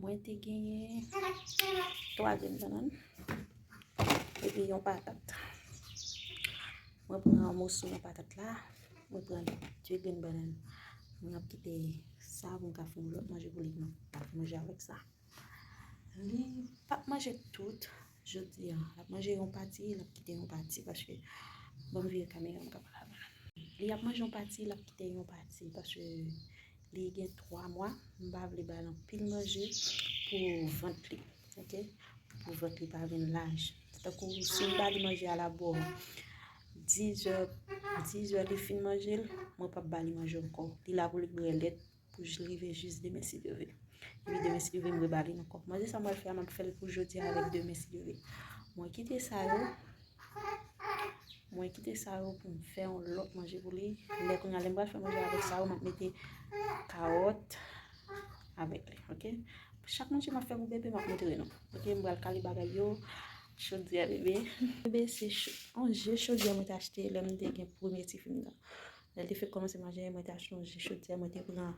Mwen te genyen 3 grenn banan epi yon patat. Mwen pran yon moso nan patat la. Mwen pran 2 grenn banan. Mwen ap kite sa pou m ka fè yon lòt manje pou li. Mwen ap manje avèk sa. Li pap manje tout jodi an. Lap manje yon pati, lap kite yon pati paske banm vire kamera an mka pale avèl. Li ap manje yon pati, lap kite yon pati paske li gen 3 mwa, mpa vle bal anpil manje pou vant li ok, pou vant li pa vin laj. Tankou sim bali manje a la bo 10 è, 10 è li fin manjel, mwen pap bali manje ankò. Li la pou li bwè lèt Pou jli rive jis demen si Dye ve. Epi demen si Dye ve m rebale l ankò. Manje sa mwen fè a m ap fè l pou jodi a avèk demen si Dye ve. Mwen kite sa yo. Mwen kite sa yo pou m fè yon lòt manje pou li. Lè kounya lè m pral fè manje a avèk sa yo m ap mete kawòt avèk li. Ok. Chak manje m ap fè pou bebe m ap montre nou. Ok. M pral kale bagay yo. Chodyè bebe. Bebe se yon je chodyè mwen te achte lè m te gen premye ti fi m nan. Lè l te fèk kòmanse majè, mwen ta chonje chodyè, mwen te pran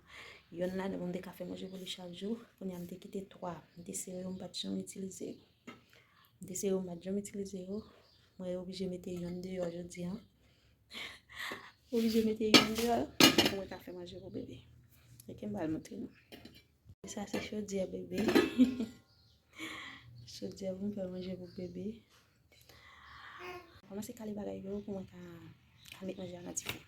yonn ladan l pou m te ka fè manje pou li chak jou. Kounye a m te kite twa. M te sere yo, m pa t janm itilize yo. M te sere yo, m pa t janm itilize yo. Mwen oblije mete yonn deyò jodi a. Oblije mete yonn deyò pou mwen ka fè manje pou bebe. Èske m ba l montre nou? Sa se chodyè bebe. Chodyè pou m fè manje pou bebe. Koman se kale bagay yo pou mwen ka met manje a nan dife.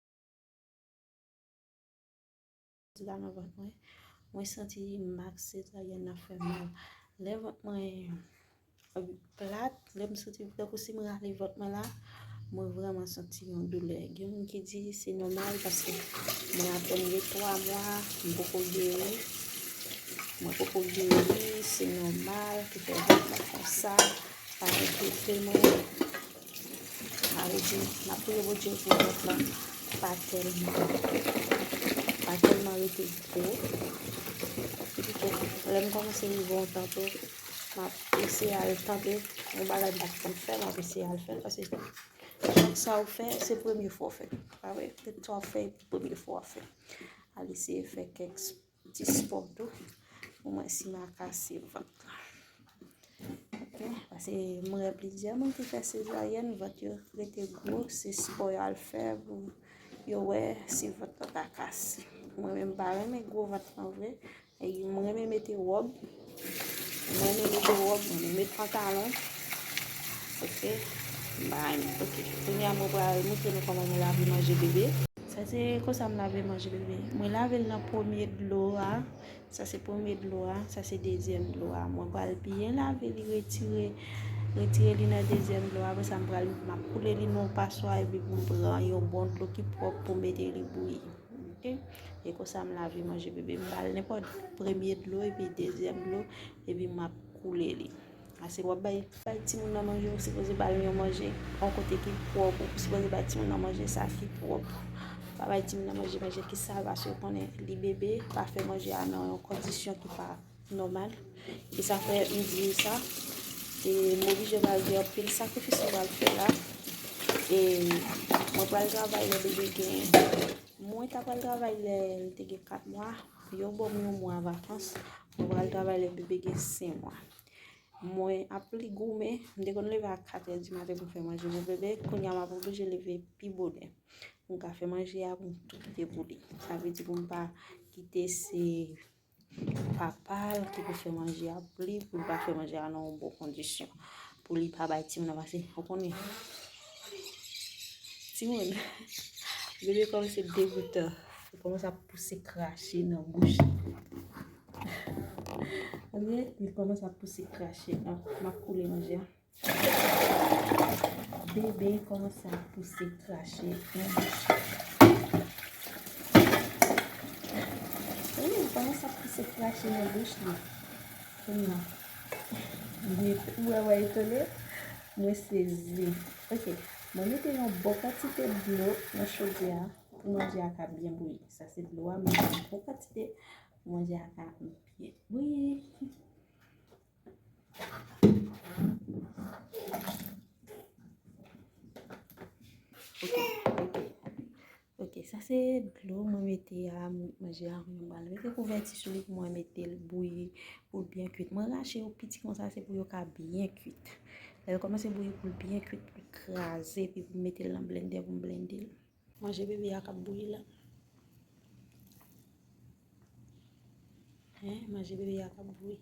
Sila nan vant mwen. Mwen santi mak sezaryen nan fè mal. Lè vant mwen plat, lè m santi m tankou si m rale vant mwen la, mwen vreman santi yon doulè. Gen moun ki di se nòmal paske mwen apèn gen 3 mwa, m poko geri. Mwen poko geri, se nòmal ki fè vant mwen konsa. Pa enkyete mwen. Sa vle di n ap priye Bondye pou vant lan pa tèlman pa tèlman rete gwo. Epitou lè m kòmanse rive yon tan tou, m ap eseye al tante yon bagay m pa t konn fè, m ap eseye al fè l paske chak sa ou fè se premye fwa ou fè l, pa vre? Depi sa w fè epi premye fwa w fè, al eseye fè kèk sipò. Ti sport tou. Pou mwen si ma kase vant la. Ok. Pase mwen re plizye moun ki fè sezaryen. Vant yo rete gwo. Se sport yo al fè. Yo we si vant la ta kase. Mwen men mpa renmen gwo vant nan vre. E mwen men mete rob. Mwen renmen mete rob mwen renmen met pantalon ok bby mwen ok kounya mwen pral montre nou koman mwen lave manje bebe. Sa se konsa m lave manje bebe mwen lavel nan premye dlo a sa se premye dlo a sa se dezyèm dlo a mwen pral byen lave li retire retire li nan dezyèm dlo a apresa m pral map koule li nan yon paswa epi pou m pran yon bon dlo ki pròp pou m mete li bouyi. Ok e konsa m lave manje bebe m bal nenpòt premye dlo epi dezyèm dlo epi map koule li ase wap bay bay timoun nan manje ou sipoze bal yon manje yon kote ki pwòp ou sipoze bay timoun nan manje sa ki pwòp pa bay timoun nan manje manje ki sal paske konnen li bebe pa fè manje a nan yon kondisyon ki pa Nòmal. E sa fè m di yo sa. E m oblije pral di yo anpil sakrifis m pral fè la. E mwen pral travay lè bebe gen. Mwen ta pral travay lè l te gen 4 mwa. Yo ban m yon mwa vakans. Mwen pral travay lè bebe gen 5 mwa. Mwen ap li goumen. M te konn leve a 4 è di maten pou m fè manje pou bebe. Kounye a m ap oblije leve pi bonè. Pou m ka fè manje a pou m tou kite pou li. Sa vle di pou m pa kite se. papal ki pou fè manje a pou li pou li pa fè manje a nan yon bon kondisyon pou li pa bay timoun nan pase ou konnen timoun bebe kòm se degoutan ou konnen sa pouse krache nan bouch ou konnen sa pouse krache nan koule manje a Bebe komanse ap pouse krache. Eee, li komanse ap pouse krache nan bouch li. Kounya. Li tou wè wè etone. Mwen sezi. Ok, mwen mete yon bon kantite dlo nan chodye a pou manje a ka byen bouyi. Sa se dlo a, mwen mete yon bon kantite pou manje a ka byen bouyi. Dlo mwen mete a, mwen jè a mwen bal. Mwen te kou vè ti souli pou mwen mete l bouyi pou l byen kuit. Mwen rache yo piti kon sa se pou yo ka byen kuit. Lè l komanse bouyi pou l byen kuit, pou l kraze, pou l mete l nan blendè pou m blende l. Manje bebe a kap bouyi la. Hein manje bebe a kap bouyi.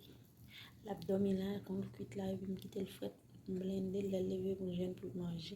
Lap domi la kon l kwit la epi m kite l fret. M blende l lèl leve pou l jwenn pou l manje.